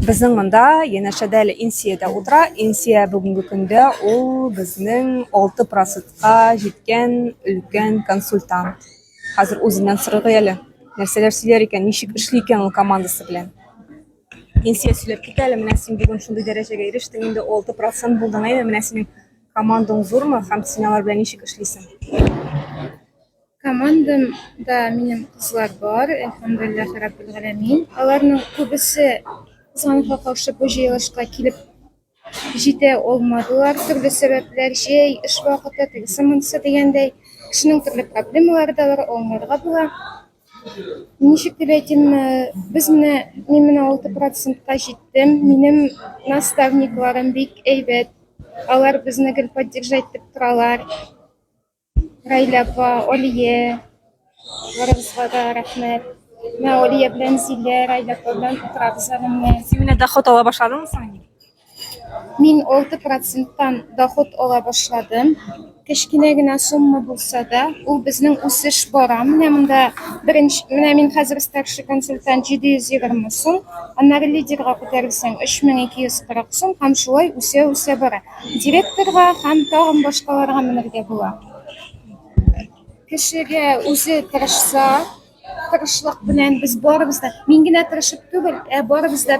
Безнең монда янәшәдә әле Инсия дә утыра. Инсия бүгенге көндә ул безнең 6 процентка җиткән өлкән консультант. Хәзер үзеннән сорыйк әле. Нәрсәләр сөйләр икән, ничек эшли икән ул командасы белән. Инсия сөйләп кит әле, менә син бүген шундый дәрәҗәгә ирештең, инде 6 процент булдың, әйе, менә синең командаң зурмы һәм син алар белән ничек эшлисең? Командам да минем кызлар бар, әлхәмдулилләһи раббил галәмин. Аларның күбесе кызганычка каршы бу җыелышка килеп җитә алмадылар. Төрле сәбәпләр, җәй, эш вакыты, тегесе монысы дигәндәй, кешенең төрле проблемалары да бар, аңларга була. Ничек дип әйтим, э, без менә мин менә 6%-ка җиттем. Минем наставникларым бик әйбәт. Алар безне гел поддержать итеп торалар. Рәйлә апа, Алия, барыбызга да рәхмәт. Менә Алия белән Зилә, Рәйлә апа белән утырабыз әле менә. Син менә доход ала башладыңмы соң инде? Мин 6 проценттан доход ала башладым. Кечкенә генә сумма булса да, ул безнең үсеш бара. Менә монда беренче, менә мин хәзер старший консультант 720 сум, аннары лидерга күтәрелсәң 3240 сум һәм шулай үсә-үсә бара. Директорга һәм тагын башкаларга менергә була. Кешегә үзе тырышса, тырышлык белән без барыбыз да, мин генә тырышып түгел, ә барыбыз да